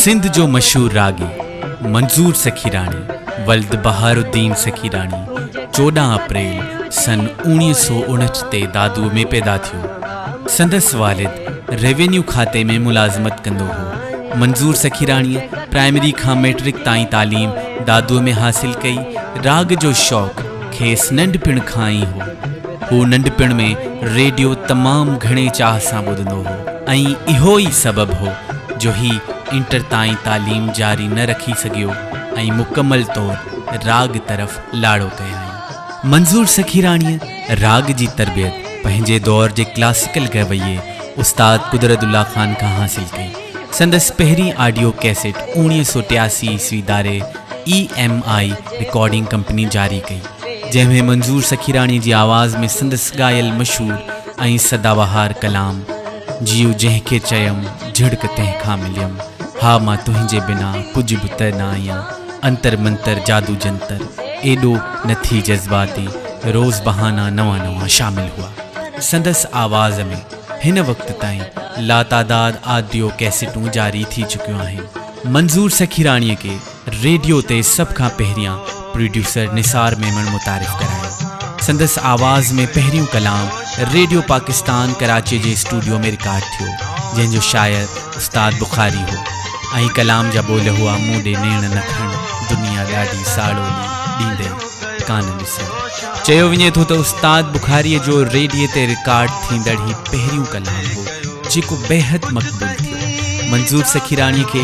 سنڌ جو مشهور راڳي منظور سخيراڻي ولد بهار الدين سخيراڻي چوڏهن اپريل سن اوڻيهه سؤ اڻهٺ تي دادوء ۾ پيدا ٿيو. سندس والد روينيو کاتي ۾ ملازمت ڪندو هو. منظور سخيراڻيء پرائمري کان مئٽرڪ تائين تعليم دادوء ۾ حاصل ڪئي. راڳ جو شوق کيس ننڍپڻ کان ئي هو. هو ننڍپڻ ۾ ريڊيو تمام گهڻي چاهه سان ٻڌندو هو ۽ اهو ئي سبب هو جو هي انٽر تائين تعليم جاري نه رکي سگهيو ۽ مڪمل طور راڳ طرف لاڙو ڪيائين. منظور سخيراڻيء راڳ جي تربيت پنهنجي دور جي ڪلاسيڪل گئويي استاد قدرت الله خان کان حاصل ڪئي. سندس پهرين آڊيو ڪيسٽ اوڻيهه سؤ ٽياسي عيسوي داري E M I recording company جاري ڪئي. جنهن ۾ منظور سخيراڻي جي آواز ۾ سندس ڳايل مشهور ۽ سدابهار ڪلام جيو جنهن کي چيم جهڙڪ تنهن کان مليم ها مان تنهنجي بنا ڪجهه به ته نه آهيان انتر منتر جادو جنتر ايڏو نه ٿي جذباتي روز بهانا نوان نوان شامل هئا سندس آواز ۾ هن وقت تائين لاتعداد آديو ڪيسيٽون جاري ٿي چڪيون آهن منظور سخيراڻي کي ريڊيو تي سڀ کان پهريان پروڊيوسر نثار ميمڻ متعارف ڪرايو. سندس آواز ۾ پهريون ڪلام ريڊيو پاڪستان ڪراچي جي اسٽوڊيو ۾ رڪارڊ ٿيو، جنهن جو شاعر استاد بخاري هو ۽ ڪلام جا ٻول هئا مون ڏي نيڻ نه کڻ دنيا ڏاڍي ساڙولي ڏيندي ڪانه ڏسي. چيو وڃي ٿو ته استاد بخاري جو ريڊيو تي رڪارڊ ٿيندڙ هي پهريون ڪلام هو، جيڪو بيحد مقبول ٿيو. منظور سخيراڻي کي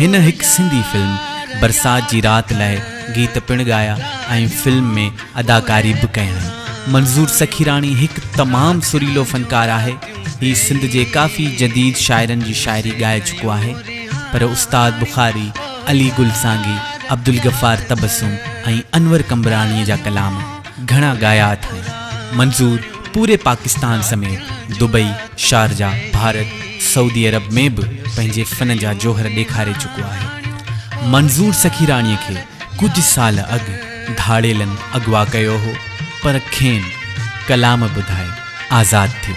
هن هڪ سنڌي فلم برسات جي رات لاء گيت پڻ ڳايا ۽ فلم ۾ اداڪاري به ڪيائين. منظور سخيراڻي هڪ تمام سريلو فنڪار آهي. هي سنڌ جي ڪافي جديد شاعرن جي شاعري ڳائي چڪو آهي. پر استاد بخاري، علي گل سانگي، عبدالغفار تبسم ۽ انور قمبراڻي جا ڪلام، گهڻا ڳايا اٿائين منظور پوري پاڪستان سميت Dubai, Sharjah, Bharat, Saudi Arab ۾ به پنهنجي فن جا جوهر ڏيکاري چڪو آهي. منظور سخيراڻي کي ڪجهه سال اڳ ڌاڙيلن اغوا ڪيو هو پر کين ڪلام ٻڌائي آزاد ٿيو.